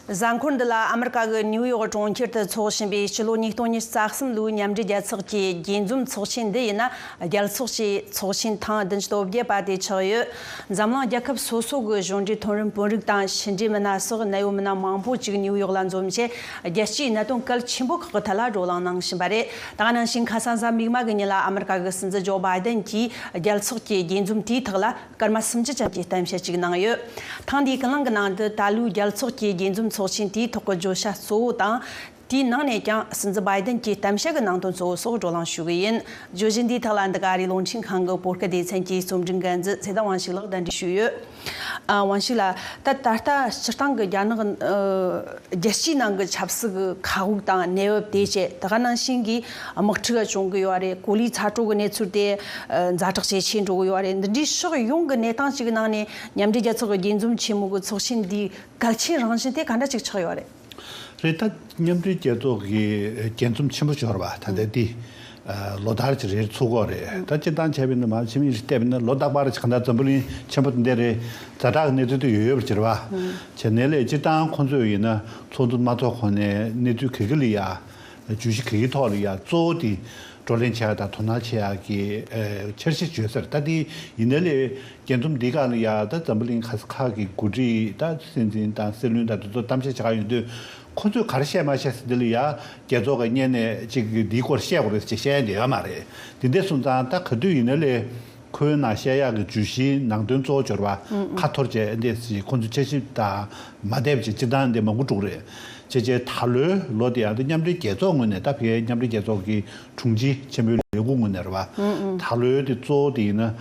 གཟའ་འཁོར་འདི་ལ་ཨ་མི་རི་ཀ་གི་ནིའུ་ཡོག་གྲོང་ཁྱེར་དུ་འཚོགས་བཞིན་པའི་སྤྱི་ལོ་ཉིས་སྟོང་ཉིས་རྩ་གསུམ་ལོའི་མཉམ་འབྲེལ་རྒྱལ་ཚོགས་ཀྱི་རྒྱས་འཛོམས་ཚོགས་ཆེན་འདི་ཡིན་ན་རྒྱལ་ཚོགས་ཀྱི་ཚོགས་ཆེན་ཐེངས་བདུན་སྟོབས་རྒྱས་པ་དེ་ཆགས་ཡོད། འཛམ་གླིང་རྒྱལ་ཁབ་སོ་སོ་གི་གཞུང་འབྲེལ་ཐོན་རིམ་དཔོན་རིགས་དང་ཕྱི་འབྲེལ་མི་སྣ་སོགས་གནད་ཡོད་མི་སྣ་མང་པོ་གཅིག་ནིའུ་ཡོག་ལ་འཛོམས་རྗེས་རྒྱལ་སྤྱིའི་གནད་དོན་གལ་ཆེན་པོ་ཁག་གི་ཐད་ལ་བགྲོ་གླེང་གནང་བཞིན་པ་རེད། ད་ནང་ཞིང་ཁ་ས་གཟའ་མིག་དམར་གྱི་ཉིན་ལ་ཨ་མི་རི་ཀ་གི་སྲིད་འཛིན་ཇོ་བྷའི་དན་གྱིས་རྒྱལ་ཚོགས་ཀྱི་རྒྱས་འཛོམས་དེའི་ཐོག་ལ། སྐར་མ་སུམ་ཅུ་ཙམ་གྱི་གཏམ་བཤད་ཅིག་གནང་ཡོད། ཐེངས་འདིའི་ཀུན་སློང་གི་ནང་དུ་ད་ལོའི་རྒྱལ་ཚོགས་ཀྱི་རྒྱས་འཛོམས་ཚོགས་ཆེན་དེའི་ཐོག་གི་བརྗོད་བྱ་གཙོ་བོ་དང། དེའི་ནང་ནས་ཀྱང་སྲིད་འཛིན Biden གྱི་གཏམ་བཤད་ཀྱི་ནང་དོན་གཙོ་བོ་སོགས་བགྲོ་གླེང་ཞུ་གི་ཡིན། བརྗོད་གཞི་འདིའི་ཐོག་ལ་འདི་ག་རིགས་གློག་འཕྲིན་ཁང་གི་པོར་ཀ་སྡེ་ཚན་གྱི་རྩོམ་སྒྲིག་འགན་འཛིན་ཚེ་བདག་དབང་ཕྱུག་ལགས་བརྡ་འདྲི་ཞུས་ཡོད། དབང་ཕྱུག་ལགས། ད་ལྟ་སྤྱིར་བཏང་གི་རྒྱ་ནག་རྒྱལ་སྤྱིའི་ནང་གི་ཆབ་སྲིད་ཀྱི་མཁའ་དབུགས་དང་གནས་བབ་དེ་བཅས་ད་ག་ནང་བཞིན་གྱི་དམག་འཁྲུག་བྱུང་གི་ཡོད་རེད་གོ་ལའི་ཚ་དྲོད་ཀྱི་གནས་ཚུལ་དེ་ཛ་དྲག་ཇེ་ཆེ་འགྲོ་གི་ཡོད་རེད་འདི་འདྲའི་ཕྱོགས་ཡོངས་ཀྱི་གནས་སྟངས་ཅིག་གི་ནང་ནས་མཉམ་འབྲེལ་རྒྱལ་ཚོགས་ཀྱི་རྒྱས་འཛོམས་ཆེན་མོ་གི་ཚོགས་ཆེན་འདིའི་གལ་ཆེན་རང་བཞིན་དེ་ག་འདྲ་ཅིག་ཆགས་ཡོད་རེད། རེད་ད། མཉམ་འབྲེལ་རྒྱལ་ཚོགས་ཀྱི་རྒྱས་འཛོམས་ཆེན་མོ་འབྱོར་བ་ད་ལྟ་འདི་ལོ་ཟླར་གྱི་རེའི་ཚུགས་འགོ་རེད་ད་སྤྱིར་བཏང་བྱས་པའི་ནུབ་བམ་ཕྱི་མིག་ལྟས་པས་ན་ལོ་ཟླ་བར་གྱི་གང་ལྟར་འཛམ་བུ་གླིང་ཆེན་པོ་འདི་རེ་ཛ་དྲག་གི་གནས་ཚུལ་དེ་ཡོད་ཡོད་པར་གྱུར་བ་བྱས་ནས་ལས་སྤྱིར་བཏང་ཁོང་ཚོས་ཡིན་ན་ཚོགས་འདུ་མ་ཚོགས་གོང་ནས་གནས་ཚུལ་གེ་གེ་ལི་ཡ་ཇུས་གཞི་གེགས་ཀྱི་ཐོག་ལ་ཡང་གཙོ་བོ་དེ་བགྲོ་གླེང་བྱེད་ཡག་དང་དོ་སྣང་བྱེད་ཡག་གི་འཆར་གཞི་བརྗོད་སར་ད་ལྟའི་ཡིན་ནའི་ལས་རྒྱ་མཚུམ་འདི་ག་ལ་ཡང་ད་འཛམ་བུ་གླིང་ཁ་ས་ཁག་གི་འགོ་ཁྲིད་ད་སྲིད་འཛིན་དང་སྲིད་བློན་དང་དེ་ཚོར་གཏམ་བཤད་བྱ་ག་ཡོང་དུས་ཁོ་ཚོས་ག་རེ་བཤད་མ་བཤད་ས་དེ་ལ་ཡང་རྒྱལ་ཚོགས་ཀྱི་གཉན་ནད་ཅིག་གིས་འདིའི་སྐོར་བཤད་དགོས་རེད་ཅེས་བཤད་ཡ་འདི་ཡོད་མ་རེད་དེ་འདས་སོང་ཙང་ད་ག་དུས་ཡིན་ནའི་ལས། ཁོའི་ནང་བཤད་ཡག་གི་བརྗོད་གཞིའི་ནང་དོན་གཙོ་བོ་སྦྱོར་བ་ཁ་འཐོར་བཅས་འདེད་སྲིད་ཁོ་ཚོས་དཔྱད་ཞིབ་དང་མ་བསྡད་བྱས་སྤྱིར་བཏང་འདི་མ་མགོ་དཀྲུག་རེད། ཅེས་བཅས་ད་ལོའི་ལོ་འདི་ཡང་མཉམ་འབྲེལ་རྒྱལ་ཚོགས་ངོས་ནས་ད་བྷེའི་མཉམ་འབྲེལ་རྒྱལ་ཚོགས་ཀྱི་དྲུང་ཆེ་ཆེན་པོའི་ལས་ཁུངས་ངོས་ནས་རེད་བ། ད་ལོའི་དེ་གཙོ་བོ་དེ་ཡིན་ན།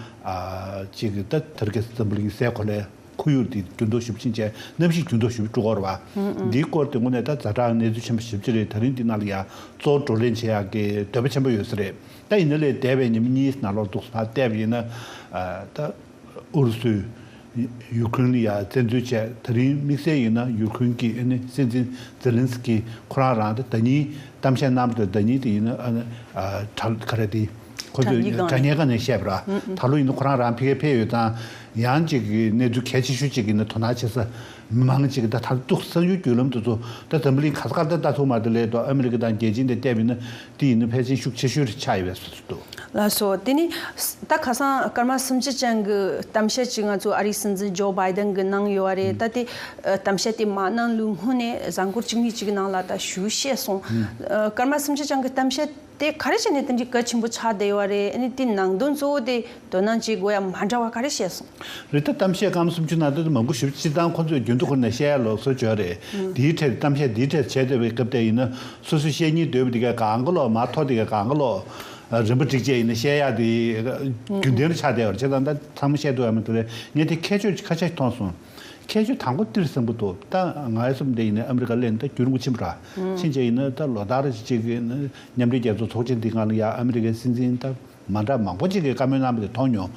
གཅིག་གིས་ད་ཐེར་ཀེ་སི་ཛམྦུ་ལིང་སའི་གོ་ལའི་ཁོར་ཡུག་དེ་རྒྱུན་ཐོ་ཞིབ་ཕྱིན་ཆད་གནམ་གཤིས་རྒྱུན་ཐོ་ཞིབ་དཀྲུག་འོག་རེད་བ། འདིའི་སྐོར་དེ་ངོས་ནས་ད་རྫ་དྲག་གནས་ཚུལ་ཆེན་པོ་ཞིབ་ཕྱི་རེད་ད་རིང་འདི་ནང་ལ་ཡང་གཙོ་བོ་བགྲོ་གླེང་བྱེད་ཡག་གི་འདོད་པ་ཆེན་པོ་ཡོད་ས་རེད། ད་ཡིན་ན་ལས་འདས་པའི་ཉི་མ་གཉིས་སུ་ན་ལོར་འདུག་སོང་ལ་བལྟས་པ་ཡིན་ན། ད་ཨུ་རུ་སུས་ཡུ་ཁུན་ལ་ཡར་བཙན་འཛུལ་བྱས་ད་རིང་དམིགས་བསལ་ཡིན་ན་ཡུ་ཁུན་གྱི་ཨ་ནི་སྲིད་འཛིན་ཛེ་ལིན་སི་ཀི་ཁོ་རང་རང་ད་ད་ཉིད་གཏམ་བཤད་གནང་པ་དང་ད་ཉིད་དེ་ཡིན་ན་ཨ་ནི་དྲ་ག་རེ་དེ་ཁོ་ཚོས་དྲ་སྙན་སྒང་ནས་བཤད་པ་ར་ད་ལོ་ཡིན་ན་ཁོ་རང་རང་ཕི་ཀེ་ཕེ་ཡོད་ཙང་ཡང་ཅིག་གི་གནས་ཚུལ་གལ་ཆེ་ཤོས་ཅིག་གི་ནི་དོ་སྣང་བྱེད་ས་མི་མང་ཅིག་གི་ད་ད་ཏུག་གསང་ཡུལ་བརྒྱུད་ལམ་དུ་ཚོ་ད་ཛམ་བུ་ལིང་ག་ས་ག་ད་ད་ཐུག་མ་ད་ལས་ད་ཨ་མི་རི་ཀ་དང་རྒྱལ་སྤྱི་འདི་བལྟས་པ་ཡིན་ན་དེ་ཡིན་ན་ཕལ་ཆེན་ཤུགས་ཆེ་ཤོས་ཆགས་ཡོད་པའི་ཚོད་འདུག། ལ་སོགས་དེ་ནི་ད་ཁ་སང་སྐར་མ་སུམ་ཅུ་ཅན་གྱི་གཏམ་བཤད་ཅིག་ང་ཚོའི་ཨ་རིའི་སྲིད་འཛིན་ཇོ་བྷའི་དན་གྱིས་གནང་ཡོད་རེད་ད་དེ་གཏམ་བཤད་དེ་མ་གནང་ལུགས་སྔོན་ནས་གཟའ་འཁོར་ཅིག་མི་ཅིག་ནང་ལ་ད་ཞུ་བཤད་སོང། སྐར་མ་སུམ་ཅུ་ཅན་གྱི་གཏམ་བཤད་དེ་ག་རེ་བྱས་ནས་དེ་འདྲའི་གལ་ཆེན་པོ་ཆགས་བསྡད་ཡོད་རེད་ཨ་ནི་དེའི་ནང་དོན་གཙོ་བོ་དེ་དོ་སྣང་བྱེད་དགོས་ཡ་མ་འདྲ་བ་ག་རེ་བཤད་སོང། རི་ཐ་གཏམ་བཤད་སྐམ་སུམ་ཅུ་ནང་དོན་དུ་མང་པོ་ཞིབ་ཅིག་བཏང་ཁོ་ཚོས་རྒྱུན་དུ་ཁུར་ནས་བཤད་ཡ་ལོག་སོ་བྱོས་རེད་དེའི་ཁྲེར་གཏམ་བཤད་དེའི་ཁྲེར་བྱས་དེ་བས་སྐབས་དེ་ཡིན་ན་སོ་སོས་བཤད་སྙིང་དོད་པོ་དེ་གས་གང་ག་ལོག་མ་ཐོག་དེ་གས་གང་ག་ལོག་རིན་པོ་ཏྲིག་བཅས་ཡིན་ན་བཤད་ཡ་དེ་རྒྱུན་ལྡན་རུ་ཆགས་བསྡད་བར་བྱས་ད་ད་ཚང་མ་བཤད་འདུག་ཡ་མ་འདུག་རེད་ངས་དེ་ཁྱད་ཆོས་ཀྱི་ཁ་ཆ་ཞིག་མཐོང་སོང། ཁྱད་ཆོས་དང་པོ་ཏིར་སེང་པོ་འདུག་ད་ང་ཡ་སུབ་འདེ་ཡིན་ན་ཨ་མི་རི་ཀ་གླེན་ད་བསྐྱུར་འགུ་ཕྱིན་པོ་ར་ཕྱིན་བྱས་ཡིན་ན་ད་ལོ་ད་ར་ཅིག་ཅིག་མཉམ་འབྲེལ་རྒྱལ་ཚོགས་ཚོགས་ཆེན་འདི་སྔ་ལ་ཡ་ཨ་མི་རི་ཀའི་སྲིད་འཛིན་ད། མ་འདྲ་མང་པོ་ཅིག་གིས་བཀའ་མོལ་གནང་པ་དེ་མཐོང་མྱོང།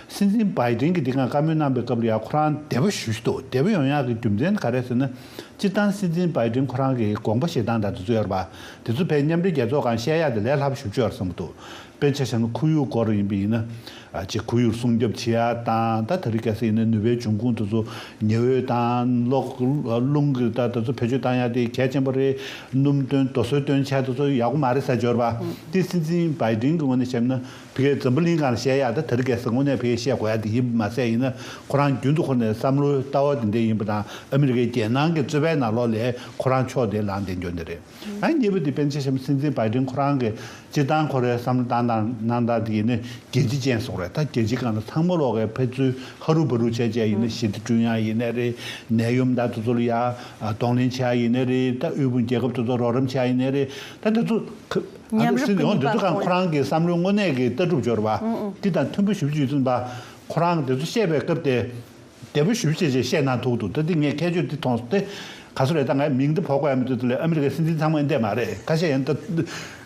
སྲིད་འཛིན་བྷའི་ཏེན་གྱིས་འདི་གར་བཀའ་མོལ་གནང་པའི་སྐབས་རེ་ཡང་ཁོ་རང་དད་པ་ཞུ་གཞི་འདུག་དད་པ་ཡོང་ཡག་གི་རྒྱུ་མཚན་ནི་ག་རེ་ཟེར་ན། སྤྱིར་བཏང་སྲིད་འཛིན་བྷའི་ཏེན་ཁོ་རང་གིས་དགོངས་པ་ཞེ་སྡང་འདྲ་དེ་ཚོ་ཡོད་པ། དེ་ཚོ་བས་མཉམ་འབྲེལ་རྒྱལ་ཚོགས་གང་བཤད་ཡག་དེ་ལས་ལྷག་པ་ཞུ་ཆོག་བསམ་པ་འདུག་དཔེར་ཆ་བྱས་ན་ཁོར་ཡུག་སྐོར་ཡིན་པ་ཡིན་ན། ཅེས་ཁོར་ཡུག་སྲུང་སྐྱོབ་བྱེད་ཡག་དང་ད་ད་རི་ག་སི་ཡིན་ན་ནུས་པའི་འབྱུང་ཁུངས་དེ་ཚོ་ཉི་འོད་དང་གློག། རླུང་གི་ད་ད་ཚོ་བེད་སྤྱོད་བཏང་ཡག་དེ་གལ་ཆེན་པོ་རེད། སྣུམ་སྟོན་རྡོ་སོལ་སྟོན་ཆད་དུ་སོགས་ཡག་པོ་མ་རེད་ས་འབྱོར་པ་དེ་སྲིད་འཛིན་བའི་དིང་གི་ངོ་ནས་བཤད་ན་བི་གའི་འཛམ་བུ་གླིང་གང་ལ་བཤད་ཡག་ད་དེར་རྒས་ས་ངོ་ནས་བི་གའི་བཤད་གོ་ཡག་དེ་ཡིན་པ་མ་ཟད་ཡིན་ན་ཁོ་རང་རྒྱུན་དུ་ཁོ་ནས་བསམ་བློའི་ལྟ་བ་དེ་འདྲས་ཡིན་པ་དང་ཨ་མི་རི་ཀའི་རྒྱལ་ནང་གི་རྩོད་པའི་ནང་ལོག་ལས་ཁོ་རང་ཕྱོགས་དེ་ལངས་བསྡད་འགྱོ་འདི་རེད་ཨ་མྱེས་པོ་དེ་སྤེན་ཚེ་ཞམ་སྲིད་འཛིན་བའི་དིང་ཁོ་རང་གི་སྤྱིར་བཏང་ཁོ་རའི་བསམ་བློ་སྟངས་དང་གནང་སྟངས་དེ་ཡིན་ན་རྒྱལ་སྤྱི་ཅན་སོགས་རེད་ད་རྒྱལ་སྤྱི་གང་ན་ཚང་མ་ལོག་གེ་ཕེབས་ཚུལ་ཧ་རུ་བ་རུ་བྱས་བྱས་ཡིན་ན་ཞི་བདེ་བསྐྲུན་ཡག་ཡིན་ནའི་རེད་ནད་ཡོམ་འདག་དུ་ཚོ་ལ་ཡག་གདོང་ལེན་བྱས་ཡག་ཡིན་ནའི་རེད་ད་དབུལ་ཕོངས་རྒྱལ་ཁབ་དུ་ཚོ་རོགས་རམ་བྱས་ཡག་ཡིན་ནའི་རེད་ད་དེ་ཚོ་ཨ་ནུ་སི་ལི་ཧོང་དེ་ཚོ་གང་ཁོ་རང་གི་བསམ་བློའི་དངོས་གནས་ཀྱི་ལྟ་གྲུབ་སྦྱོར་བ་དེ་དང་མཐུན་པོ་ཞུ་རྒྱུ་ཡོད་ཚུལ་འདག་ཁོ་རང་གི་དེ་ཚོ་བཤད་པའི་སྐབས་དེ། བདེ་པོ་ཞུ་ཞེས་ཞེས་བཤད་གནང་ཐུག་འདུག་ད་ཐེངས་ངས་ཁྱད་ཆོས་འདི་མཐོང་སྟེ། ག་སུ་རེད་ད་ངའི་མིང་འདི་བོར་དགོས་ཡ་མི་འདུག་དེ་ལས་ཨ་མི་རི་ཀའི་སྲིད་འཛིན་ཚང་མ་ཨིན་དད་མ་རེད་ཁ་ཤས་ཡིན།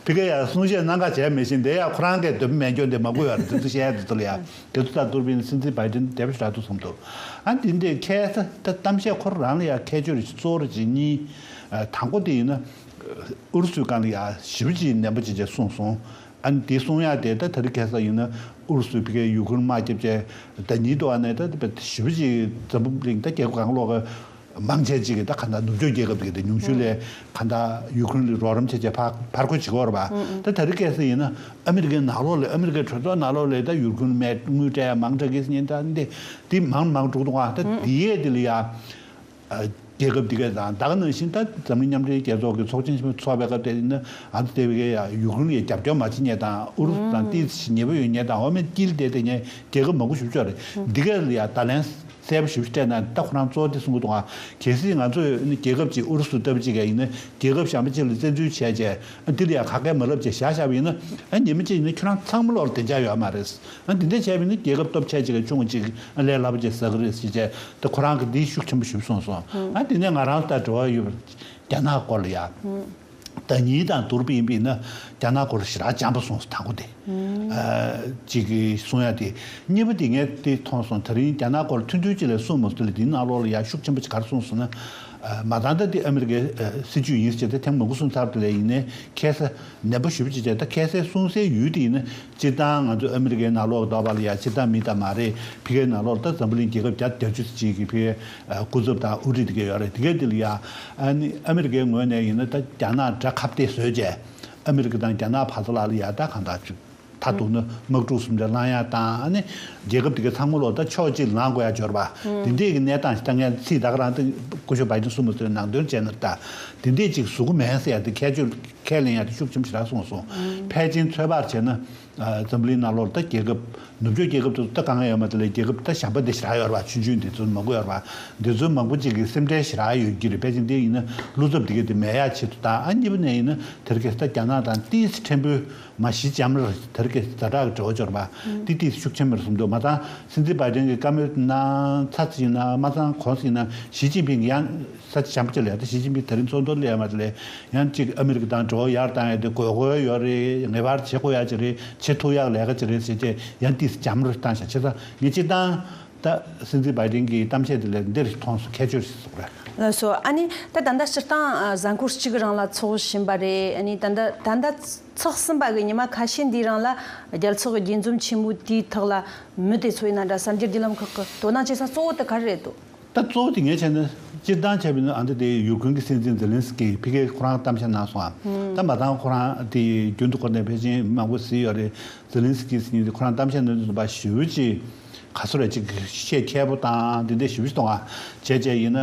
ཕི་ཀེ་ཡར་གསུང་བཤད་གནང་ཁ་བྱས་མེད་བཞིན་དེ་ཡང་ཁོ་རང་གས་འདོད་པ་མེད་འགྱོ་འདི་མ་གུས་ཡར་འདི་ཚོ་བཤད་ཡ་འདི་ཚོ་ལ་ཡ་དེ་ཚོ་ལྟར་ཏུར་བིན་སྲིད་འཛིན་བྷའི་ཏིན་དད་པ་ཞིག་རག་འདུག་བསམ་འདུག་ཨ་འདི་འདི་ཁྱད་ད་ད་གཏམ་བཤད་ཁོ་རང་ལ་ཡ་ཁྱད་ཆོས་རེ་ཞིག་གཙོ་བོ་རེ་ཞིག་གཉིས། དང་པོ་དེ་ཡིན་ན། ཨུ་རུ་སུའི་སྒང་ལ་ཡ་ཞི་བ་ཅི་ཡིན་ནན་པོ་ཅི་བྱས་གསུངས་སོང། ཨ་ནི་དེ་གསུང་ཡ་དེ་ད་ཐར་གྷལ་ས་ཡིན་ན་ཨུ་རུ་སུའི་ཕི་ཁའི་ཡུ་ཁུར་མ་སྐྱེབ་ཅེ་ད་ཉིད་དུ་ཨ་ནི་ད་བེ་ད་ཞི་བུ་ཅིག་ཛམ་བུ་བླིང་ད་རྒྱལ་ཁབ་གང་ལོག་གི་མང་ཆད་ཅིག་གི་ད་ཁ་མདའ་ནུབ་ཕྱོགས་རྒྱལ་ཁབ་ཀྱི་ད་ཉུང་ཤུ་ལེ་ཁ་མདའ་ཡུ་ཁུར་ལི་རོག་རམ་ཆད་ཅེ་ཕག་ཕར་ཁོ་ཅིག་ཧོར་བ་ད་ཐར་གྷལ་ས་ཡིན་ན་ཨ་མི་རི་ཀའི་ནག་ལོག་ལེ་ཨ་མི་རི་ཀའི་གྲོས་ཚོགས་ནག་ལོག་ལེ་ད་ཡུར་ཁུར་མའི་དངུལ་ཏྲ་ཡ་མང་ཏྲ་གིས་ཉིན་ད་ནི་དེ་མང་མང་དྲུག་ཏུ་ང་ད་དེ་ཡས་དེ་ལི་ཡ་རྒྱལ་ཁབ་དེ་གའི་དང་བདག་ནང་བཞིན་དང་འཛམ་གླིང་མཉམ་འབྲེལ་རྒྱལ་ཚོགས་ཀྱི་ཚོགས་ཆེན་ཆེན་མོ་འཚོགས་པའི་སྐབས་དེ་ནི་ཨ་རུ་ཏེ་ཝེ་ཀེ་ཡཱ་ཡུཀ་རེན་ཡའི་རྒྱབ་སྐྱོར་མ་བྱེད་ཉེས་དང་ཨུ་རུ་སུ་དང་ཏི་སི་ཉེ་བོ་ཡོད་ཉེས་དང་འོག་མིན་དཀྱིལ་དེ་དེ་ཉེས་རྒྱལ་ཁབ་མང་པོ་ཞུ་ཕྱོགས་རེད་འདི་གས་ཡ་ད་ལན་གསལ་པོ་ཞིབ་ཕྱི་སྤྲད་ན་ད་ཁོ་རང་ཚོ་དེ་གསུངས་དུ་ཨང་གལ་སྲིད་ང་ཚོས་ཨ་ནི་རྒྱལ་ཁབ་ཅིག་ཨུ་རུ་སུ་ལྟ་བུ་ཅིག་གས་ཡིན་ན་རྒྱལ་ཁབ་གཞན་པ་ཅིག་ལ་བཙན་འཛུལ་བྱས་རྗེས་ཨ་དེ་ལ་ཡ་ཁ་སྐད་མ་ལབ་ཅེས་བཞག་བཞག་པ་ཡིན་ན་ཨ་ཉེས་མེད་ཅིག་ཡིན་ན་ཁྱོད་རང་ཚང་མ་བློར་བདེ་འཇགས་ཡོད་མ་རེད་ཨ་འདི་འདྲས་བྱས་པས་ནི་རྒྱལ་ཁབ་སྟོབས་ཆེ་གཅིག་གི་ཆུང་ངུ་གཅིག་ཨ་ལས་སླ་པོ་ཆེ་ཟ་གི་རེད་ཟེར་བྱས་ཏེ་ཁོ་རང་གིས་འདིའི་ཤུགས་ཆེན་པོ་ཞིབ་གསུངས་སོང། ཨ་དེ་ནས་ང་རང་ལྟར་དྲི་བ་ཡོད་པ་རྒྱ་ནག་སྐོར་ལ་ཡག། ད་ཉིད་དང་དུར་བུ་ཡིན་པས་ན་རྒྱ་ནག་སྐོར་ལ་ཞེ་དྲག་སྦྱངས་པ་སོང་དང་པོ་དེ། གཅིག་གསུངས་ཡ་དེ། གཉིས་པ་དེ་ངས་དེ་མཐོང་སོང་ད་རིང་རྒྱ་ནག་སྐོར་མཐུན་འགྱུར་གཅིག་ལས་གསུངས་མ་ཐུབ་ལ་འདིའི་ནང་ལོགས་ལ་ཡག་ཤུགས་ཆེན་པོ་གཅིག་གར་གསུངས་སོང་ན། མ་ད་ལྟ་འདི་ཨ་མི་རི་ཀའི་སྲིད་ཇུས་ཡིན་ཟེར་བྱས་ཏེ་ཐེངས་མང་པོ་གསུངས་ཚར་དེ་ལས་ཡིན་ནའི་ཁྱད་ས། ནད་པ་ཞུ་བ་བྱེད་བྱེད་ད་ཁལ་སེ་སྲུང་སའི་ཡུལ་དེ་ཡིན་ན་སྤྱིར་བཏང་ང་ཚོ་ཨ་མི་རི་ཀའི་ནག་ལོག་ལ་བདག་པ་ལ་ཡ་སྤྱིར་བཏང་མི་དག་མ་རེད་ཕི་ཀའི་ནག་ལོག་ལ་ད་འཛམ་བུ་གླིང་རྒྱལ་ཁབ་བརྒྱ་དང་གྱ་བཅུ་ཟེར་གཅིག་གི་ཕི་ཀའི་སྐུ་ཚབ་དང་དབུ་ཁྲིད་དེ་གས་ཡོད་རེད་དེ་གས་དེ་ལ་ཡ་ཨ་ནི་ཨ་མི་རི་ཀའི་ངོས་ནས་ཡིན་ན་ད་རྒྱ་ནག་དགྲ་ཁ་བལྟས་བཟོས་བྱས་ཨ་མི་རི་ཀ་དང་རྒྱ་ནག་བར་དུ་ལ་ལ་ཡ་ད་གང་དག་བཅུག། མཐར་གཏུགས་ན་དམག་འཁྲུག་གསུམ་ཆ་ལང་ཡང་བཏང་ནས་རྒྱལ་ཁབ་དེ་གའི་ཚང་མ་ལོག་ལྟ་ཕྱོགས་གཅིག་ལངས་དགོས་ཡ་འབྱོར་བ། དེ་འདྲས་ཀྱི་གནས་སྟངས་ཤིག་ད་ངས་ཚིག་དག་རང་སྟེང་ཀུ་ཤོ་བ་ཅན་གསུམ་མ་ཚོའི་ནང་དོན་བྱས་ན་ལྟ། དེ་འདྲས་གཅིག་གཟུགས་མེད་ཟེར་ཡ་དེ་ཁྱད་ཆོས་ཁས་ལེན་ཡ་དེ་ཤུགས་ཆེམ་ཞེ་དྲག་གསུངས་སོང། ཕལ་ཆེན་ཚོད་དཔག་བྱས་ན། འཛམ་བུ་གླིང་ནང་ལོག་ལྟ་རྒྱལ་ཁབ། ནུབ་ཕྱོགས་རྒྱལ་ཁབ་དེ་ཚོ་ལྟ་ག་ང་ཡོད་མ་དེ་ལས་རྒྱལ་ཁབ་ལྟ་ཞན་པ་དེ་ཞེ་དྲག་ཡོད་རེད་བ་ཆུན་ཆུན་དེ་ཚོ་མ་གོ་ཡོད་རེད་བ། དེ་ཚོའི་མང་པོ་གཅིག་གི་སེམས་ཁྲལ་ཞེ་དྲག་ཡོད་ཀྱི་རེད་ཕལ་ཆེན་དེ་ཡིན་ན་ཀླུ་ཚབ་དེ་གས་དེ་མེད་ཡ་བྱེད་དུ་བཏང་ཨ་གཉིས་པ་ནས་ཡིན་ན་དེར་གས་ས་རྒྱ་ནག་དང་ཏིས་ཕྲན་བུ། མ་གཞི་ལྕམ་ར་དར་གྱི་བཟའ་བྲག་གི་དྲི་བ་འབྱོར་པ་ཏིག་ཏིག་ཤུགས་ཆེན་མེར་སོང་འདུག་མ་ཚང་སྲིད་འཛིན་པཱི་ཏན་གྱི་བཀའ་མོལ་ན་ཚ་ཚ་ཡིན་ནམ་མ་ཚང་གོང་ས་ཡིན་ནམ་ཞི་ཅིན་ཕིང་གི་ཡང་ས་ཆ་བྱམས་བརྩེ་ལས་དང་ཞི་ཅིན་ཕིང་ད་རིང་ཚོགས་འདུར་སླེབས་ཡ་མ་སླེབས་ཡང་གཅིག་ཨ་མི་རི་ཀ་དང་འབྲེལ་བ་ཡར་བཏང་ཡ་དེ་དགོས་མཁོ་ཡོད་རེད་ངེས་པར་བྱེད་དགོས་ཡ་ཅིག་རེད་བྱེད་ཐུབ་ཡག་ལས་ཀ་ཅིག་རེད་ཟེར་རྗེས་ཡང་ཏིག་ལྕམ་ར་བཏང་ཞག་ཕྱི་ས་ངས་ཅིག་བཏང། ད་སྲིད་འཛིན་བའི་ཏིན་གྱི་གཏམ་བཤད་དེ་ལས་འདིར་མཐོང་སོ་ཁྱད་ཆོས་ཤིག་བཟོ་རེད། ངོས་སུ་ཨ་ནི་ད་ད་འདའ་སྤྱིར་བཏང་གཟའ་འཁོར་གཅིག་རང་ལ་ཚོགས་བཞིན་པ་རེད་ཨ་ནི་ད་འདའ་ད་འདའ་ཚོགས་ཟིན་པ་གི་ཉི་མ་ཁ་ཤས་འདི་རང་ལ་རྒྱལ་ཚོགས་ཀྱི་རྒྱས་འཛོམས་ཆེན་མོ་དེའི་ཐོག་ལ་མི་དེ་ཚོ་ཡིན་ན་འདྲ་བསམ་རྒྱུར་འདི་ལམ་ཁག་གི་དོ་སྣང་བྱེད་ས་གཙོ་བོ་དེ་གར་རེད་དོ། ད་གཙོ་བོ་དེ་ངས་བྱས་ན་སྤྱིར་བཏང་བྱས་པའི་ནི་ཨ་འདི་དེ་ཡུ་ཀེན་གྱི་སྲིད་འཛིན་ཛེ་ལིན་སི་ཀེ་ཕི་ཀེ་ཁོ་རང་གཏམ་བཤད་གནང་སོང་ཨ་ད་མ་ཚང་ཁོ་རང་དེ་རྒྱུན་དུ་ཁོ་ནས་བྷེ་ཅིན་མང་པོ་བཟི་ཡོད་རེད་ཛེ་ལིན་སི་ཀེ་སི་ཉིན་དེ་ཁོ་རང་གཏམ་བཤད་ནོར་འདི་བཟོ་པ་ཞུ་ཅི། ག་ཚོད་རེད་ཅིག་བཤད་ཁྱད་པོ་དང་འདི་འདྲའི་ཞིབ་བཤེར་གཏོང་བ་བྱས་བྱས་ཡིན་ན་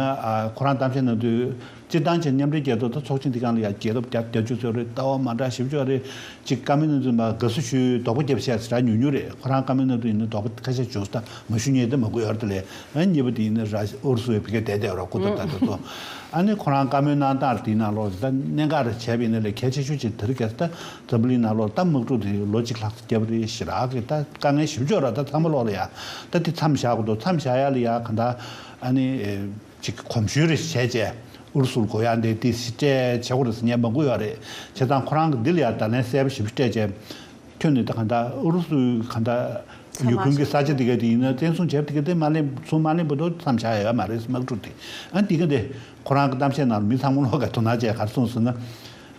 ཁོ་རང་གཏམ་བཤད་གནང་དུས་སྤྱིར་བཏང་བྱས་མཉམ་འབྲེལ་རྒྱལ་ཚོགས་དང་ཚོགས་ཆེན་འདི་གང་ལ་ཡང་རྒྱལ་ཁབ་རྒྱ་བཅུ་ཚོད་རེད་ལྟ་བ་མ་འདྲ་ཞིབ་བཤེར་བ་རེད་ཅིག་ཀ་མེད་གནང་དུས་མ་དགའ་བསུ་ཞུས་དོག་པོ་རྒྱབ་བཤད་ཟེར་ར་ཉུག་ཉུག་རེད་ཁོ་རང་ཀ་མེད་གནང་དུས་ཡིན་ན་དོག་པོ་ཁ་ཤས་ཞུ་ས་མ་ཞུ་ཉེས་དེ་མ་དགོས་ཨར་ཏི་ལས་ཨ་གཉིས་པ་དེ་ཡིན་ན་ར་ཤི་ཨུ་རུ་སུ་བའི་བི་ཀ་དད་དད་བ་ར་སྐུ་ཐབས་ད་དེ་ཚོ་ཨ་ནི་ཁོ་རང་ཀ་མོད་གནང་སྟངས་དེ་ནང་ལོགས་ད་གནད་འགག་རེད་བྱས་པ་ཡིན་ན་ལས་གལ་ཆེ་ཤོས་ཅིག་དེ་རིགས་གལ་སྲིད་ད། འཛམ་བུ་གླིང་ནང་ལོར་རྟ་དམག་འཁྲུག་དེ་ལོ་གཅིག་ལྷག་བརྒྱབ་པ་རེད་ཞེས་རག་གིས་རྟ་དཀའ་ངལ་ཞིབ་འཇུག་རག་རྟ་ཚང་མ་ལོག་ལ་ཡ་རྟ་དེ་མཚམས་བཞག་གོ་འདུག་མཚམས་བཞག་ཡ་ལ་ཡ་གང་དག་ཨ་ནི་ཅིག་གི་གོམས་ཞུས་རེ་བྱས་བྱས་ཨུ་རུ་སུར་གོ་ཡ་འདི་དེ་སྤྲད་བྱས་གོ་རེ་ཟེར་ཉན་པ་མགུ་ཡོད་རེད་བྱས་ཙང་ཁོ་རང་གི་འདི་ལ་ཡ་ད་ལན་གསལ་པོ་ཞིབ་ཞིབ་སྤྲད་བྱས་ཁྱོད་ནི་ད་གང་དག་ཨུ་རུ་སུའི་གང་དག་ཡུ་ཀུན་གི་ས་ཆ་དེ་ག་དེ་ཡིན་ན་བཙན་བཟུང་བྱས་པ་དེ་ག་དེ་མ་གླེང་བཟུང་མ་གླེང་པ་འདུག་མཚམས་བཞག་ཡ་མ་རེད་དམག་འཁྲུག་དེ་ཨ་འདི་ག་འདི་ཁོ་རང་གི་གཏམ་བཤད་ནང་ལ་མི་ཚང་མ་ལོག་ག་དོ་སྣང་བྱས་ག་རེ་སོང་ཟེར་ན།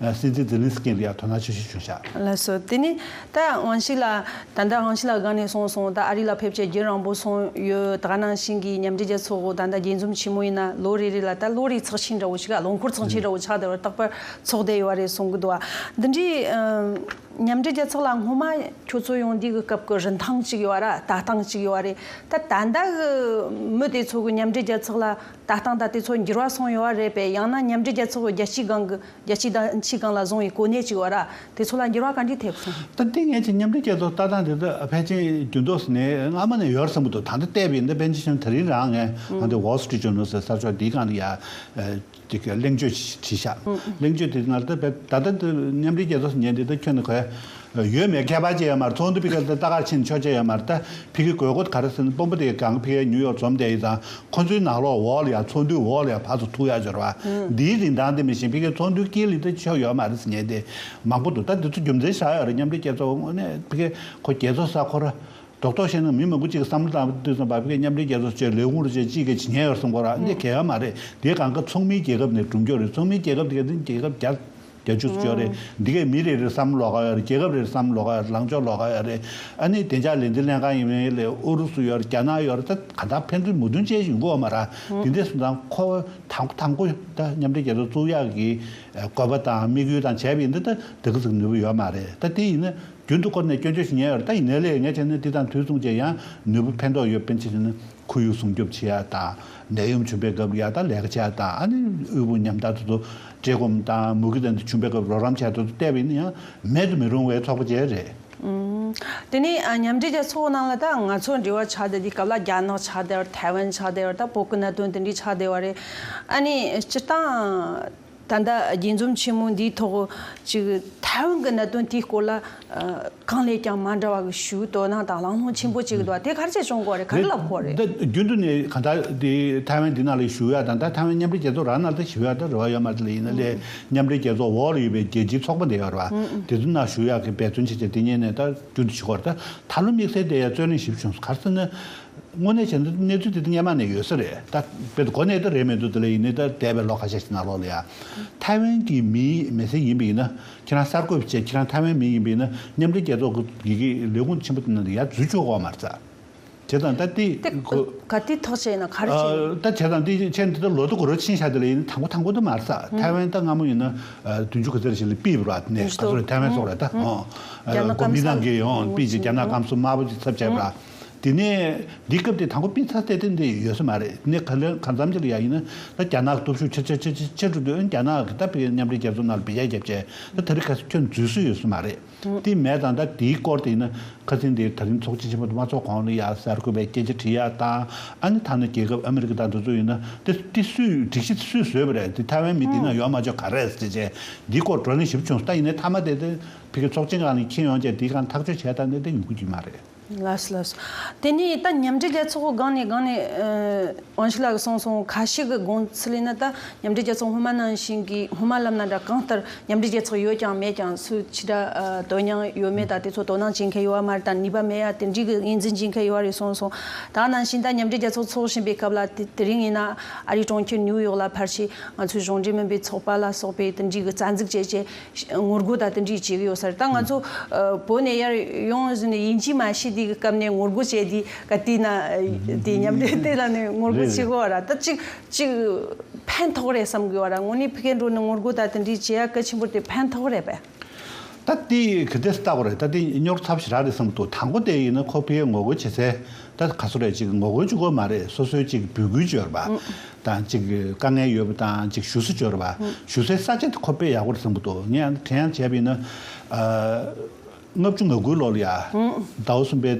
སྲིད་འཛིན་ཛེ་ལིན་སི་ཀིས་འདི་ཡར་དོ་སྣང་ཆེ་ཤོས་བྱུང་ཤག། ལ་སོགས་དེ་ནི་ད་དབང་ཞིག་ལ་ད་ལྟ་དབང་ཞིག་ལ་དགའ་ནས་སོང་སོང་ད་ཨ་རི་ལ་ཕེབས་ཆེད་རྒྱུན་རང་པོ་སོང་ཡོད་དགའ་ནང་བཞིན་གྱི་མཉམ་འབྲེལ་རྒྱལ་ཚོགས་འོག་ད་ལྟ་རྒྱས་འཛོམས་ཆེན་མོ་ཡིན་ན་ལོ་རེ་རེ་ལ་ད་བློ་རིག་ཚགས་ཆེན་འདྲ་བོ་ཞིག་ག་ལོ་འཁོར་ཚགས་ཆེན་འདྲ་བོ་ཆགས་བསྡད་པར་རྟག་པར་ཚོགས་བསྡད་ཡོད་བ་རེད་གསུང་གི་འདུག་བ་འདི་འདྲའི་མཉམ་འབྲེལ་རྒྱལ་ཚོགས་ལ་སྔོན་མ་ཁྱོད་ཚོ་ཡོང་དུས་ཀྱི་སྐབས་ཀྱི་རིན་ཐང་ཅིག་ཡོད་བ་ར་ལྟ་སྟངས་ཅིག་ཡོད་བ་རེད་ད་ད་ལྟ་གི་མི་དེ་ཚོ་གི་མཉམ་འབྲེལ་རྒྱལ་ཚོགས་ལ་ལྟ་སྟངས་དང་དེ་ཚོར་འགྱུར་བ་སོང་ཡོད་པ་རེད་པས་ཡང་ན་མཉམ་འབྲེལ་རྒྱལ་ཚོགས་ཀྱི་རྒྱལ་སྤྱིའི་སྒང་གི་རྒྱལ་སྤྱིའི་བདམས་ཕྱིའི་སྒང་ལ་བཟུང་བའི་གོ་གནས་ཅིག་ཡོད་ར་དེ་ཚོ་ལ་འགྱུར་བ་ག་འདྲས་ཐེབས་སོང། ད་ལྟའི་ངེད་ཀྱི་མཉམ་འབྲེལ་རྒྱལ་ཚོགས་ལྟ་སྟངས་དེ་དག་ཕལ་ཆེན་རྒྱུན་དུ་ནས་སྔ་མོ་ནས་ཡོད་སྲིད་མོད་དོ་ད་ལྟ་བལྟས་པས་འདི་པེན་ཇི་ཤོན་ད་རིང་རང་ངས་ཨ་འདི Wall Street Journal ཟེར་གསར་ཤོག་འདིའི་སྒང་ལ་ཡ་དེ་ག་གླེང་བརྗོད་བྱས་ཤག་གླེང་བརྗོད་དེ་ང་ལ་ད་ད་ད་ད་མཉམ་འབྲེལ་རྒྱལ་ཚོགས་སུ་ཉན་དེ་ད་ཁྱོད་ནི་གས་ཡོད་མེད་ཁྱད་པར་ཅི་ཡོད་མ་རེད་ཚོགས་འདུ་ཕི་ག་ལྟ་གར་ཕྱིན་ཆོག་ཅི་ཡོད་མ་རེད་ད་ཕི་གི་དགོས་མཁོ་ག་རེ་ཟེར་ན་དཔོན་པོ་དེ་གང་ཕི་གའི་ཉུ་ཡོག་འཛོམས་བསྡད་ཡིན་ཙང་ཁོ་ཚོའི་ནག་ལོག་འོག་ལ་ཡང་ཚོགས་འདུའི་འོག་ལ་ཡང་བར་དུ་ཐུག་ཡག་འབྱོར་བ་འདིའི་རིན་ཐང་དེ་མི་ཤེས་ཕི་གའི་ཚོགས་འདུའི་དཀྱིལ་ལི་ལྟ་ཆོག་ཡོད་མ་རེད་ཟེར་ཉེན་དེ་མང་པོ་འདུག་ད་འདི་ཚོ་རྒྱུ་མཚན་བཞག་ཡོད་རེད་མཉམ་འབྲེལ་རྒྱལ་ཚོགས་དངོས་གནས་ཕི་གའི་ཁོ་རྒྱལ་ཚོགས་ས་ཁོ་ར་རྡོག་རྡོག་བཤད་ན་མི་མང་པོ་གཅིག་གི་བསམ་བློ་དང་བསྟུན་སོང་བ་ཕི་གའི་མཉམ་འབྲེལ་རྒྱལ་ཚོགས་བཅས་ལས་ཁུངས་རུ་བཅས་གཅིག་གི་ཇི་སྙེད་ཡོད་སོང་ཁོ་ར་འདི་གལ་ཡོད་མ་རེད་འདི་གང་དགའ་ཚོགས་མིའི་རྒྱལ་ཁབ་ནས་བསྒྲུབ་མགྱོགས་རེད་ཚོགས་མིའི་རྒྱལ་ཁབ་དེ་ག་དེ་རྒྱལ་ཁབ་རྒྱ་རྒྱ་ཆུ་ཚོད་ཅོག་རེད། འདི་གས་མི་རེ་རེར་བསམ་བློ་ལོག་ག་ཡོད་རེད་རྒྱལ་ཁབ་རེར་བསམ་བློ་ལོག་ག་ཡོད་རེད་ལངས་ཕྱོགས་ལོག་ག་ཡོད་རེད། ཨ་ནི་བདེ་འཇགས་ལས་འཛིན་ལྷན་ཁང་ཡིན་མིན་ལས་ཨུ་རུ་སུ་ཡོད་རེད་རྒྱ་ནག་ཡོད་རེད་ད་ག་འདྲ་ཕན་ཚུན་མོ་བདུན་ཅན་ཞིག་འགོ་མ་རག་དེ་འདྲས་སུ་འདང་ཁོ་བོ་དང་དང་པོ་ད་མཉམ་འབྲེལ་རྒྱལ་ཚོགས་གཙུག་ཡག་གི་དགོས་པ་དང་དམིགས་ཡུལ་དང་བྱས་པ་ཡིན་ན་ད་འདི་ག་ཟིག་ནུས་པ་ཡོད་མ་རེད་ད་དེ་ཡིན་ན་རྒྱུན་དུ་བསྐོར་ནས་སྐྱོན་བརྗོད་ཞིག་ཉན་ཡོད་རེད་ད་ཡིན་ན་ལས་ངས་བྱས་ན་འདི་དང་དུས་མཚུངས་ཅན་ཡང་ནུས་པ་ཕན་ཐོགས་ཡོད་པན་ཆེ་ཞིག་ནི་ཁོར་ཡུག་སྲུང་སྐྱོབ་བྱེད་ཡག་དང་ནད་ཡམས་བྱུང་པའི་སྐབས་ཡར་ལྟ་ལེགས་བྱ་དང་ཨ་ནེ་དབུལ་པོ་ཉམས་ཐག་ཏུ་དུ་བཀྲེས་སྐོམ་དང་མུ་གེ་དང་དུ་བྱུང་པའི་སྐབས་རོགས་རམ་བྱ་དུ་དུ་བལྟས་པ་ཡིན་ན་ཡང་མེད་དུ་མི་རུང་བའི་ཚོགས་པ་བཅས་རེད། དེ་ནས་མཉམ་འབྲེལ་རྒྱལ་ཚོགས་ནང་ལ་ད་ང་ཚོ་འབྲེལ་བ་ཆགས་བསྡད་དེ་སྐབས་ལ་རྒྱ་ནག་ཆགས་བསྡད་བར་ཐའེ་ཝན་ཆགས་བསྡད་བར་ད་བོད་ཀྱི་གནད་དོན་དེ་འདྲས་ཆགས་བསྡད་བ་རེད། ཨ་ནེ་སྤྱིར་བཏང། ད་ལྟ་དགྱེས་འཛོམས་ཆེན་མོ་འདིའི་ཐོག་ཅིག་ཐའེ་ཝན་གྱི་གནད་དོན་དེའི་སྐོར་ལ། གང་ལས་ཀྱང་མ་འདྲ་བ་གྱི་ཞུ་དོ་སྣང་དང་ལང་ལོང་ཆེན་པོ་ཅིག་འདུག་དེ་གར་ཆེད་བྱུང་སྐོར་རེད་ག་འདྲ་ལབ་སྐོར་རེད། འདི་རྒྱུན་དུ་ནས་གང་ལྟར་དེ་ཐའེ་ཝན་འདི་ན་ལས་ཞུ་ཡ་དང་ད་ཐའེ་ཝན་མཉམ་འབྲེལ་རྒྱལ་ཚོགས་ར་ན་ལྟ་ཞུ་ཡ་དང་རེ་བ་ཡོད་མ་རེད་ལ་ཡིན་ན་ལས་མཉམ་འབྲེལ་རྒྱལ་ཚོགས་འོག་ལ་ཡོད་པའི་རྒྱལ་སྤྱིའི་ཚོགས་པ་འདི་ཡོད་ར་དེ་ཚོ་ན་ཞུ་ཡ་གི་འབད་བརྩོན་བྱེད་ཆེད་དེ་ཉིན་ནས་ད་རྒྱུན་དུ་ཞུ་སྐོར་རེད་ད་ལོ་དམིགས་བསལ་དེ་ཡ་རྩོད་གླེང་ཞིབ་བྱུང་གར་སེ་ན། དངོས་གནས་བྱས་ན་གནས་ཚུལ་དེ་སྙན་མ་ནས་ཡོད་ས་རེད་ད། དཔེར་དུ་གོ་གནས་དེ་རེད་མི་འདུག་དེ་ལ་ཡིན་ནའི་ད་འདས་པའི་ལོ་ག་ཤས་ཤིག་ནང་ལོགས་ལ་ཡ། ཐའེ་ཝན་གྱི་མི་མི་སེར་ཡིན་པ་ཡིན་ན་ཁྱེད་རང་གསར་འགོད་པའི་ཆེད་ཁྱེད་རང་ཐའེ་ཝན་མི་ཡིན་པ་ཡིན་ན་མཉམ་འབྲེལ་རྒྱལ་ཚོགས་ཀྱི་ཡི་གེ་ལས་ཁུངས་ཆེན་པོ་དེ་ནང་དུ་ཡ་འཛུལ་ཆོག་གོ་མ་རྩ། བྱས་ཙང་ད་དེ། དེ་ག་དུས་ཐོག་བྱས་ན་ག་རེ་བྱས་ཡོད། ད་བྱས་ཙང་དེ་བྱས་ནས་ད་ལོ་ཏོག་གོ་རོ་ཕྱིན་ཤག་དེ་ལ་ཡིན་ན་དང་པོ་དང་པོ་དེ་མ་རྩ་ཐའེ་ཝན་ད་སྔ་མོ་ཡིན་ན་དུས་མཇུག་གི་ཟེར་བྱས་ལ་པིས་བོར་བ་དེ་ནས་ག་ཚོད་རེད་ཐའེ་ཝན་སོགས་རེད་ད། རྒྱ་ནག་སྐམ་ས། གོ་མིན་ཏང་གིས་ཡོང་པིས་ཀྱི་རྒྱ་ནག་སྐམ་ས་དམར་པོ་ཆེ་ཚབ་བྱས་པ། དེ་ནས་འདི་སྐབས་དེ་དང་པོ་སྤེན་ཚ་རྩེ་བརྟན་དེ་ཡོད་ས་མ་རེད་དེ་ནས་ག་ལེར་ག་འཛམ་གྱི་ལ་ཡ་ཡིན་ན་ད་རྒྱ་ནག་གི་སྟོབས་ཤུགས་ཆེ་ཆེ་ཆེ་ཆེ་ཆེ་འགྲོ་དུས་རྒྱ་ནག་གི་ད་བལ་མཉམ་འབྲེལ་རྒྱལ་ཚོགས་ནང་ལ་བལ་རྒྱ་རྒྱབ་ཆེ་ད་ད་རི་ཁ་ཁྱོད་འཛུལ་སྲོལ་ཡོད་ས་མ་རེད་དེ་མེད་ཙང་ད་དེའི་སྐོར་དེ་ཡིན་ན་ཁ་ཚིན་དེ་ད་རིང་ཚོགས་སྤྱི་ཆེན་མོ་དུ་མ་ཚོགས་གོང་ལ་ཡ་གསར་བཀོད་པའི་སྐད་ཆ་དྲི་ཡ་ད་ཨ་ནི་ད་ནི་རྒྱལ་ཁབ་ཨ་མི་རི་ཀ་ད་འདི་ཚོ་ཡིན་ན་དེ་དེ་སུས་སྒྲིག་གཞི་དེ་སུས་བཟོས་པ་རེད་དེ་ཐའེ་ཝན་མི་དེ་ནང་ཡོད་མ་བྱོས་ག་རེད་ཟེར་བྱས་འདི་སྐོར་བགྲོ་གླེང་ཞིབ་བྱུང་ད་ཡིན་ན་མཐའ་མ་དེ་དེ་བལ་གི་ཚོགས་ཆེན་གང་ལ་ཁྱེད་ཡོང་བྱས་དེ་གང་ཐག་གཅོད་བྱས་ད་ནི་དེ་ཡོང་གི་མ་རེད། ལགས་ལགས། དེ་ནས་ད་མཉམ་འབྲེལ་རྒྱལ་ཚོགས་སྒང་ནས་སྒང་ནས། ཝང་ཞི་ལགས་གསུངས་སོང་ཁ་ཤས་ཀྱི་དགོངས་ཚུལ་ལས་ན་ད་མཉམ་འབྲེལ་རྒྱལ་ཚོགས་སྔོན་མ་ནང་བཞིན་གྱི་སྔོན་མ་ལབ་ན་འདྲ་གང་ལྟར་མཉམ་འབྲེལ་རྒྱལ་ཚོགས་ཡོད་ཀྱང་མེད་ཀྱང་སུ་ཅི་འདྲ་དོན་སྙིང་ཡོད་མེད་དང་དེ་ཚོ་དོ་སྣང་བྱེད་མཁན་ཡོད་ཡ་མ་རེད་དང་ནུས་པ་མེད་ཡ་དེ་འདྲིའི་གི་ངེས་འཛིན་བྱེད་མཁན་ཡོད་རེད་གསུངས་སོང་ད་ནང་བཞིན་ད་མཉམ་འབྲེལ་རྒྱལ་ཚོགས་འཚོགས་བཞིན་པའི་སྐབས་ལ་དེ་རིང་ཡིན་ན་ཨ་རིའི་གྲོང་ཁྱེར་ནིའུ་ཡོག་ལ་ཕར་ཆེད་ང་ཚོའི་གཞུང་འབྲེལ་མིན་པའི་ཚོགས་པ་ལ་སོགས་པའི་དེ་འདྲིའི་གི་རྩ་འཛུགས་བྱས་བྱས་ངོ་རྒོལ་དང་འཐེན་འཁྲིད་བྱེད་ཀྱི་ཡོད་ས་རེད་ད་ང་ཚོ་བོད་ནས་ཡར་ཡོང་ཟིན་ནས་ཡིན་གཅིག་མ་ཤེས་དེའི་སྐབས་ནས་ངོ་རྒོལ་བྱས་དེ་ག་དུས་ན་དེ་མཉམ་འབྲེལ་དེ་ལ་ནས་ངོ་རྒོལ་བྱེད་དགོས་བ་ར་ད་གཅིག་གཅིག་ཕན་ཐོགས་རེད་བསམ་དགོས་བ་ར་ངོ་ནས་ཕི་གེ་འགྲོ་ནས་ངོ་རྒོལ་དང་འཐེན་འཁྲིད་བྱེད་ཡ་གལ་ཆེན་པོ་དེ་ཕན་ཐོགས་རེད་པས། ད་དེ་ག་དུས་སུ་བལྟ་དགོས་རེད་ད་དེ་སྙོར་ཐབས་ཞིག་རག་རེད་བསམ་འདུག་ད་འགོ་དེ་ཡིན་ན་ཁོ་ཕི་གེ་ངོ་རྒོལ་བྱེད་ཚེ་ད་ག་སོ་རེད་ཅིག་ངོ་རྒོལ་བྱུག་དགོས་མ་རེད་སོ་སོའི་ཅིག་འབུད་སྐུལ་བྱོས་ར་བ། དང་ཅིག་དཀའ་ངལ་ཡོད་པ་དང་ཅིག་ཞུ་སྲི་འབྱོར་བ་ཞུ་སའི་ས་ཆ་དེ་ཁོ་དཔེ་ཡག་པོ་རེད་བསམ་གི་འདུག་ངས་ཡང་དྲན་ཡང་བྱས་པ་ཡིན་ན། ལྔ་བཅུ་ང་དགུའི་ལོ་ལ་ཡ། ཟླ་བ་གསུམ་པའི་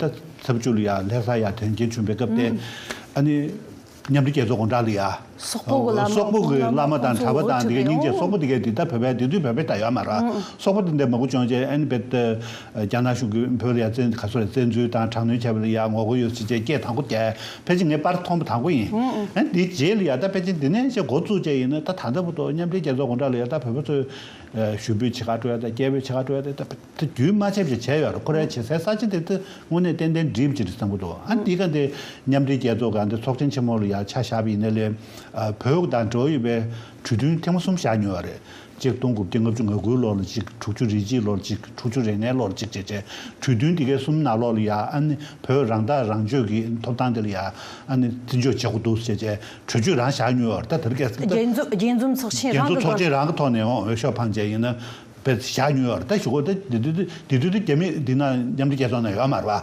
ཟླ་བཅུ་ལ་ཡ་ལྷས་ས་ཡ་དོན་རྐྱེན་བྱུང་པའི་སྐབས་དེ། ཨ་ནི། མཉམ་འབྲེལ་རྒྱལ་ཚོགས་དགོངས་དག་ལ་ཡ། སོག་པོ་གི་བླ་མ་དང་གྲྭ་བ་དང་དེ་ག་སྙིང་རྗེ་སོག་པོ་དེ་གའི་དེ་ད་བོད་པའི་དེ་དུས་བོད་པའི་ད་ཡོད་མ་ར་སོག་པོ་དེ་འདས་མ་གུ་བྱུང་རྗེས་ཨ་ནི་བེད། རྒྱ་ནག་གཞུང་གིས་བོད་ལ་ཡ་མཚན་ག་ཚོད་རེ་བསྩལ་ཚུལ་དང་དྲག་གནོན་བྱས་པ་ལ་ཡར་ངོ་རྒོལ་ཡོད་ཚུལ་བཅས་སྐད་དང་པོ་དེ་ཕལ་ཆེར་ངས་པར་མཐོང་པ་དང་པོ་ཡིན། དེའི་རྗེས་ལ་ཡར་ད་པེ་ཅིན་དེ་ནས་ཅེས་འགོ་བཙུགས་བཅས་ཡིན་ན་ད་ད་ལྟ་བུ་ཐོག་མཉམ་འབྲེལ་རྒྱལ་ཚོགས་དགོངས་དག་ལ་ཡར་ད་བོད་པ་ཚོས་ཞུ་འབོད་ཇི་ག་སྤྲོད་ཡ་དང་སྐད་འབོད་ཇི་ག་སྤྲོད་ཡ་དེ་ད་པེ་ད་རྒྱུན་མ་ཆད་བཞིན་བྱས་ཡོད་རེད་ཁོ་རའི་བྱེད་སའི་ས་ཆ་དེ་ད་དངོས་གནས་ཏན་ཏན་འགྲིབ་ཀྱི་རེད་བསམ་གི་འདུག་ཨ་འདི་ག་འདི་མཉམ་འབྲེལ་རྒྱལ་ཚོགས་ག་འདི་ཚོགས་ཆེན་ཆེན་མོ་ལ་ཡར་ཆ་བཞག་པ་ཡིན་ན་ལས་བོད་དང་འབྲེལ་བ་ཡོད་པའི་གྲོས་མཐུན་ཐེངས་མ་གསུམ་བཞག་མྱོང་ཡོད་རེད་སྤྱིར་བཏང་དགུ་བརྒྱ་ལྔ་བཅུ་ང་དགུའི་ལོར་ལ་གཅིག་དྲུག་ཅུ་རེ་གཅིག་ལོར་གཅིག་དྲུག་ཅུ་རེ་ལྔའི་ལོར་གཅིག་བཅས་བྱས། དུས་བསྟུན་འདི་གའི་གསུམ་ནང་ལོགས་ལ་ཡང་ཨ་ནི་བོད་རང་ཐག་རང་གཅོད་ཀྱི་ཐོབ་ཐང་དེ་ལ་ཡང་ཨ་ནི་བརྩི་འཇོག་བྱེད་དགོས་འདུག་ཅེས་བཅས་གྲོས་ཆོད་རང་བཞག་མྱོང་བར་ད་ལྟ་བར་སྐད་རྒྱས་འཛོམས་རྒྱས་འཛོམས་ཚོགས་ཆེན་རྒྱས་རང་གི་འཛོམས་ཚོགས་སྐོར་ཆེན་རང་གི་ཐོག་ནས་འོས་ཤོག་འཕངས་བྱས་ཡིན་ན་བར་བཞག་མྱོང་བར་ད་ཞུ་གོ་ད་དེ་དུས་དེ་དུས་དེ་རྒྱ་མི་འདི་ནང་མཉམ་འབྲེལ་རྒྱལ་ཚོགས་ནང་ཡོད་མ་རེད་པ།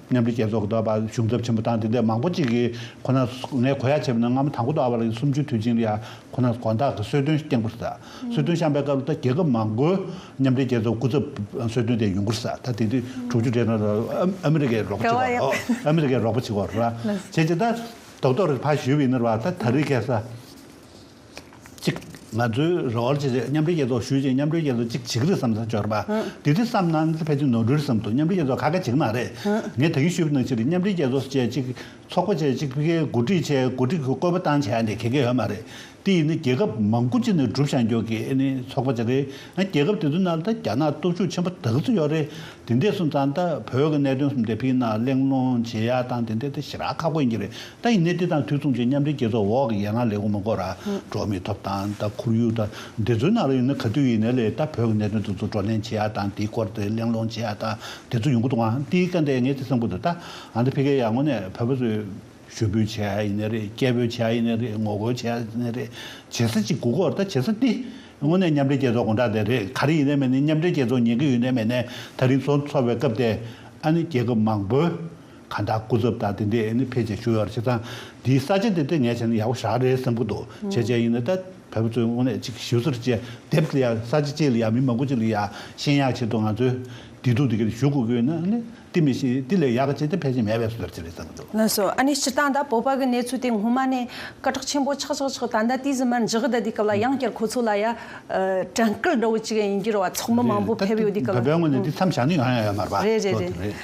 མཉམ་འབྲེལ་རྒྱལ་ཚོགས་ཀྱི་བར་གཞུང་ཚབ་ཆེན་པོ་དང་དེ་འདྲའི་མང་པོ་ཅིག་གིས་ཁོ་ནར་ངས་གོ་ཡ་བྱས་པ་ནི་སྔ་མོ་དང་གོ་ཏོ་ཨ་བྷ་ལགས་ཀྱི་གསུམ་བཅུའི་དུས་ཆེན་ལ་ཡང་ཁོ་ནར་དགོངས་དག་གིས་གསོལ་སྟོན་སྟེང་སྐུར་ཟ། གསོལ་སྟོན་བཤམས་པའི་སྐབས་ལ་ད་རྒྱལ་ཁབ་མང་པོའི་མཉམ་འབྲེལ་རྒྱལ་ཚོགས་སྐུ་ཚབ་གསོལ་སྟོན་དེ་ཡོང་སྐུར་ཟ་ད་དེ་དུས་དྲུག་ཅུ་རེ་གང་ར་ཨ་མི་རི་ཀའི་རོགས་པ་ཆེ་བ་རོགས་ཨ་མི་རི་ཀའི་རོགས་པ་ཆེ་བ་རོགས་ར་བྱས་རྗེས་ད་རྡོག་རྡོག་རེ་ཕར་བཞུད་པའི་ཡིན་ནི་ར་ད་ད་རི་ཁས་ས་གཅིག། ང་ཚོའི་རེ་བར་ཇི་བྱས་མཉམ་འབྲེལ་རྒྱལ་ཚོགས་ཞུས་ཅིག་མཉམ་འབྲེལ་རྒྱལ་ཚོགས་གཅིག་བྱེད་ཀྱི་རེད་བསམ་ས་འབྱོར་པ། དེ་དུས་བསམ་ན་ཕལ་ཆེར་ནོར་འཁྲུལ་བསམ་འདུག་མཉམ་འབྲེལ་རྒྱལ་ཚོགས་ཁ་ཁ་འབྱིན་གི་མ་རེད། ངས་དག་ཡིག་ཞུས་པ་ནང་བཞིན་རེད་མཉམ་འབྲེལ་རྒྱལ་ཚོགས་བཅས་གཅིག་ཚོགས་པ་བཅས་གཅིག་ཕི་ཁེ་གོ་སྒྲིག་བྱས་གོ་སྒྲིག་གི་བཀོད་པ་བཏང་བྱས་ནི་གལ་གལ་ཡོད་མ་རེད། དེ་ཡིན་ན་རྒྱལ་ཁབ་མང་པོ་གཅིག་ནས་བསྒྲུབ་བྱ་མགྱོགས་ཀྱི་ཨེ་ནི་ཚོགས་པ་བཅས་རེད། ཡང་རྒྱལ་ཁབ་དེ་ཚོའི་ནང་ལ་ད་རྒྱ་ནག་སྟོབས་ཤུགས་ཆེན་པོ་དག་ཚུད་ཡོད་རེད། དེ་འདས་སོང་ཙང་ད་བོད་ཀྱི་གནད་དོན་གསུམ་དེ་ཕི་ནང་གླེང་སློང་བྱེད་ཡག་དང་དེ་འདས་ད་ཞི་རག་ཁག་པོ་ཡིན་གྱི་རེད། ད་ཡིན་ནའི་དེ་དང་དུས་མཚུངས་ཀྱི་མཉམ་འབྲེལ་རྒྱལ་ཚོགས་འོག་གི་ཡན་ལག་ལས་ཁུངས་མང་པོ་ར་འབྲོག་མི་ཐོབ་དང་ད་ཁོར་ཡུག་དང་འདི་ཚོའི་ནང་ར་ཡོད་ན་ག་དུས་ཡིན་ནའི་ལས་ད་བོད་ཀྱི་གནད་དོན་དེ་ཚོ་བགྲོ་གླེང་བྱེད་ཡ་དང་དེའི་སྐོར་དེ་གླེང་སློང་བྱེད་ཡ་དང་དེ་ཚོ་ཡོང་གི་འདུག་ཨང་དེའི་སྐད་འདི་ངས་དེ་སེམས་ཁུར་འདུག་ད་ཨང་དེ་ཕི་ཀའི་ཡར་ངོ་ནས་བོད་པ་ཚོའི་ཞུ་འབོད་བྱེད་ཡ་ཡིན་ནའི་རེད་སྐད་འབོད་བྱེད་ཡ་ཡིན་ནའི་རེད་ངོ་རྒོལ་བྱེད་ཡ་ཡིན་ནའི་རེད་བྱེད་ས་ཅིག་དགོས་སྐོར་ད་བྱེད་ས་དེ་དངོས་གནས་མཉམ་འབྲེལ་རྒྱལ་ཚོགས་དགོངས་དག་དེ་རེད་ག་རེ་ཡིན་ནའི་མེད་ནའི་མཉམ་འབྲེལ་རྒྱལ་ཚོགས་ཉན་གི་ཡོད་ནའི་མེད་ནའི་ད་རིང་ཚོགས་འཚོགས་པའི་སྐབས་དེ་ཨ་ནི་རྒྱལ་ཁབ་མང་པོའི། ཁ་བརྡ་སྐུ་ཚབ་དག་དེ་འདྲའི་ཨེ་ནི་ཕལ་ཆེར་ཞུ་ཡག་རེད་བྱས་ཙང་འདིའི་ས་ཆ་དེ་འདྲ་ངས་བྱས་ན་ཡག་པོ་ཞག་རེད་བསམ་གི་འདུག་བྱས་བྱས་ཡིན་ན་ད་བལ་པོ་ཚོའི་དངོས་གནས་གཅིག་ཞུ་སོར་བཅད་དེབ་ལ་ཡག་ས་ཆ་བཅས་ལ་ཡག་མི་མང་པོ་བཅས་ལ་ཡག་ཤེས་ཡག་བྱས་ཐུབ་ང་ཚོའི་བདེ་སྡུག་དེ་ག་རེ་ཞུ་དགོས་ཀྱི་ཡོད་ན་ཨ་ནི་དེ་མི་ཤེས་དེ་ལས་ཡག་གི་བྱས་ཏེ་ཕལ་ཆེར་མེད་པས་སོ་སོར་བཅད་རེད་བསམ་གི་འདུག། ལན་སོ་ཨ་ནི་སྤྱིར་བཏང་ད་བོད་པ་གི་གནས་ཚུལ་དེ་སྔོན་མ་ནས་སྐད་གྲགས་ཆེན་པོ་ཆགས་ཆགས་ཆགས་ད་ལྟ་དུས་ཟིན་མར་འཇགས་བསྡད་དུས་སྐབས་ལ་ཡང་བསྐྱར་ཁོ་ཚོ་ལ་ཡ་དྲན་སྐུལ་འདྲ་བོ་བྱེད་མཁན་ཡིན་རྒྱུར་བ་ཚོགས་མི་མང་པོ་ཕེབས་ཡོད་དུས་སྐབས་ལ། རེད་རེད་བོད་པའི་ངོས་ནས་འདི་མཚམས་བཞག་ནི་ཡང་ཡང་ཡོད་མ་རེད་བ། ལོ་དེ་རེད།